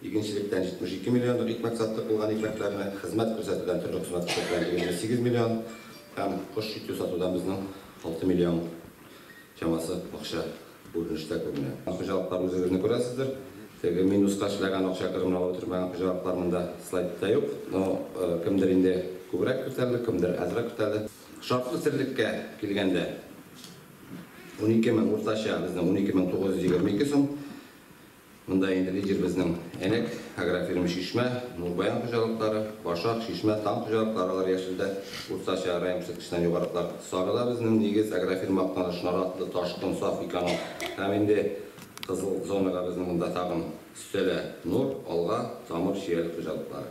Игенчелектән 72 миллионлык икмәк саттык, булган икмәкләрне хезмәт күрсәтүдән төрле хезмәт күрсәтүләр 28 миллион һәм кош ите сатудан безнең 6 миллион чамасы акча бу өлештә күренә. Хуҗалыклар үзегезне күрәсездер. Теге минуска эшләгән акча керемне алып бетермәгән хуҗалыклар монда слайдта юк. Но кемдер инде күбрәк күтәрде, кемдер азрак күтәрде. Шартлы терлеккә килгәндә, унике мең уртача безнең 12922 сум. Монда инде лидерыбызның Әнәк, Агрофирма Чишмә, Нурбаян хуҗалыклары, Башак, Чишмә, Тан хуҗалыклары алар яшелдә, уртача район күрсәткеченнән югарылар. Сарыда безнең Нигез, Агрофирма Актаныш, Наратлы, Ташкын, Саф Эконом һәм инде кызыл зонага безнең монда тагын өстәлә Нур, Алга, Тамыр, Чияле хуҗалыклары.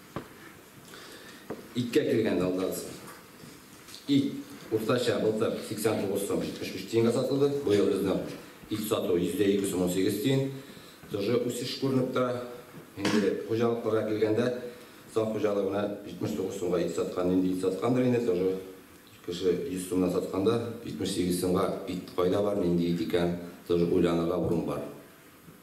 Иткә килгәндә, алдагыз. Ит, уртача, былтыр 89 сум 75 тиенгә сатылды, быел безнең ит сату 200 сум 18 тиен. Тоже үсеш күренеп тора. Инде хуҗалыкларга килгәндә, Саф хуҗалыгы менә 79 сумга ит саткан, нинди ит саткандыр инде, тоже кеше 100 сумнан сатканда, 78 сумга ит кайда бар, нинди ит икән, тоже уйланырга урын бар.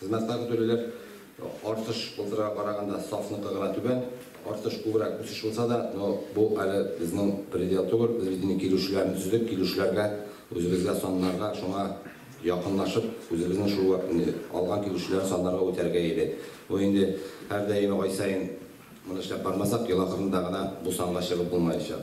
Хезмәтка көтелүләр артыш былтырга караганда САФныкы гына түбән, артыш күбрәк үсеш булса да, но бу әле безнең предел түгел, без бит инде килешүләрне төзедек, килешүләргә, үзебезгә саннарга шуңа якынлашып, үзебезнең шул алган килешүләрне саннарга үтәргә иде. Бу инде һәрдаими ай саен моны эшләп бармасак, ел ахырында гына бу санга чыгып булмаячак.